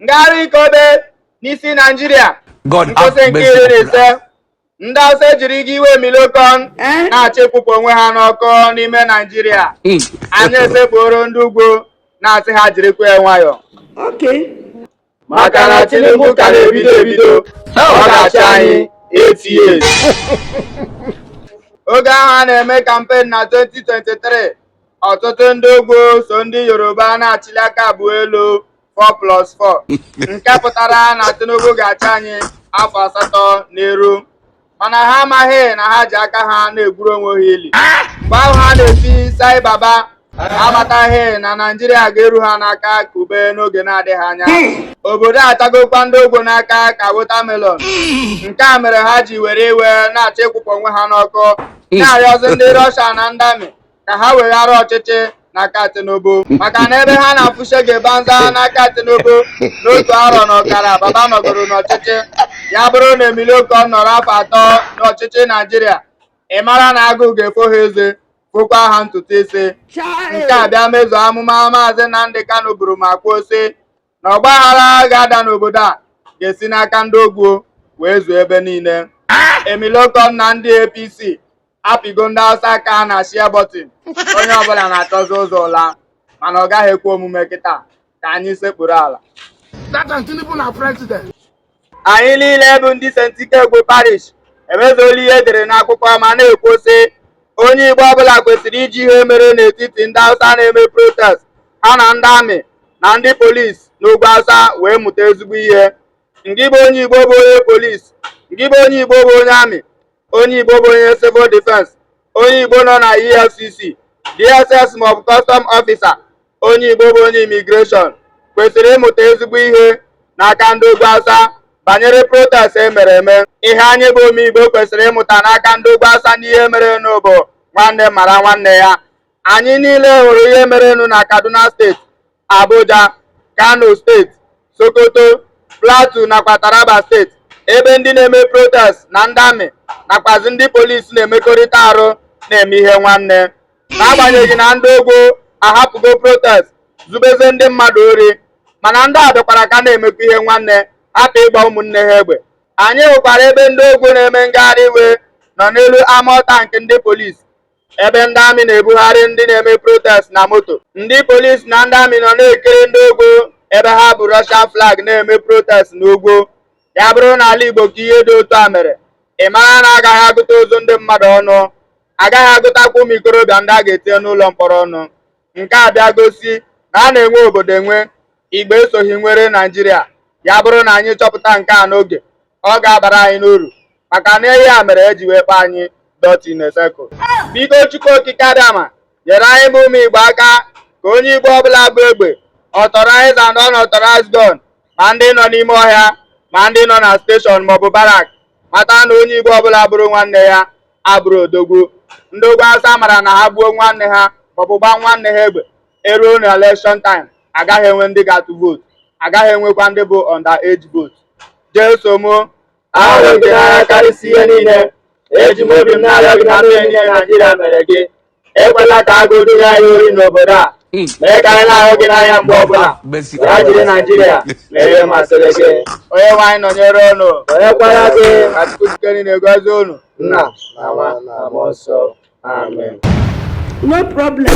ngagharị nke obe n'isi naijiria nkwụsị nke iri na ise ndị Hausa ejirigo iwe Emilokon eh? na-achọ ịkwụpụ onwe ha n'ọkụ n'ime naijiria hmm. anyị esekpuoro ndị ugwu na-asị ha jirikwa ya nwayọ maka na Tinubu ka na-ebido ebido ọ ga-achị anyị 8 years oge ahụ a na-eme kampen na 2023 ọtụtụ ndị ugwu so ndị Yoruba na-achịli aka abụọ elu 4 plus 4 nke pụtara na Tinubu ga-achị anyị afọ asatọ n'iru mana ha amaghị na ha ji aka ha na-egwuru onwe ha ili mgbe ahụ ha na-eti sai baba amataghị na Naijiria ga-eru ha n'aka ka ube n'oge na-adịghị anya obodo achagokwa ndị ugwu n'aka ka wotamelon nke a mere ha ji were iwe na-achọ ịkwụpụ onwe ha n'ọkụ na-arịọzi ndị Rọsha na ndị amị ka ha weghara ọchịchị n'aka Tinubu maka na ebe ha na-afụ Shege Banza n'aka Tinubu n'otu arọ na ọkara baba nọgoro n'ọchịchị ya bụrụ na Emilokon nọrọ afọ atọ n'ọchịchị Naijiria ị mara na agụụ ga-efo ha eze fokwa ha ntutu isi nke a bịa mezuo amụma maazị Nnamdi Kanu buru ma kwuo sị na ọgbaghara ga-ada n'obodo a ga-esi n'aka ndị ugwu wee zuo ebe niile emilokon na ndị apc apịgo ndị hausa aka na shia bọtịn onye ọbụla na-achọzi ụzọ ụla mana ọ gaghị ekwe omume kịta ka anyị sekpuru ala That and Tinubu na president. anyị niile bụ ndị St. Ikegwu parish emezuola ihe e dere n'akwụkwọ ma na-ekwu sị onye Igbo ọbụla kwesịrị iji ihe mere n'etiti ndị Hausa na-eme protest ha na ndị amị na ndị polisi n'ugwu Hausa wee mụta ezigbo ihe ngị bụ onye Igbo bụ onye polisi ngị bụ onye Igbo bụ onye amị onye Igbo bụ onye civil defense onye Igbo nọ na EFCC DSS maọbụ kọstọm ọfịsa onye Igbo bụ onye imigreshọn kwesịrị ịmụta ezigbo ihe n'aka ndị ugwu Hausa banyere protest e mere eme ihe anyị bụ ụmụ Igbo kwesịrị ịmụta n'aka ndị ugwu Hausa n'ihe merenụ bụ nwanne mara nwanne ya anyị niile hụrụ ihe merenụ na Kaduna steeti Abuja, Kano steeti, Sokoto, Plateau nakwa Taraba steeti ebe ndị na-eme protest na ndị amị nakwazi ndị polisi na-emekọrịta arụ na-eme ihe nwanne n'agbanyeghị na ndị ugwu ahapụgo protest zubezie ndị mmadụ ori mana ndị a dịkwara ka na-emekwa ihe nwanne hapụ ịgba ụmụnne ha egbe anyị hụkwara ebe ndị ugwu na-eme ngagharị iwe nọ n'elu amọtank ndị polisi ebe ndị amị na-ebugharị ndị na-eme protest na moto ndị polisi na ndị amị nọ na-ekiri ndị ugwu ebe ha bu Russia flag na-eme protest n'ugwu ya bụrụ na ala Igbo ka ihe dị otu a mere ị mara na a gaghị agụta ozu ndị mmadụ ọnụ a gaghị agụtakwa ụmụ ikorobịa ndị a ga-etinye n'ụlọ mkpọrọ ọnụ nke a bịa gosi na a na-enwe obodo enwe igbo esoghị nwere naijiria ya bụrụ na anyị chọpụta nke a n'oge ọ ga-abara anyị n'uru maka na ihe a mere eji wee kpọọ anyị dot in a circle biko chukwu okike abịama nyere anyị bụ ụmụ igbo aka ka onye igbo ọbụla bu egbe authorized and unauthorized gun ma ndị nọ n'ime ọhịa ma ndị nọ na steshọn maọbụ barak mata na onye igbo ọbụla bụrụ nwanne ya abụrụ odogwu ndị ugwu awụsa mara na ha gbuo nwanne ha maọbụ gbaa nwanne ha egbe eruo na election time agaghị enwe ndị ga-atụ vootu agaghị enwekwa ndị bụ under age vote jeso m ahụrụ m gị n'anya karịsịa ihe niile eji m obi m na-arịọ gị na mmehie niile naijiria mere gị ekwela ka agụụ duru anyị ori n'obodo a hmm. mee ka anyị na-ahụ gị n'anya mgbe ọbụla ya jiri naijiria mere ihe masịrị gị onye nwe anyị nọnyere unu nọnyekwara gị ka chukwu ji ike niile gozie unu nna na nwa na mmụọ nsọ amen no problem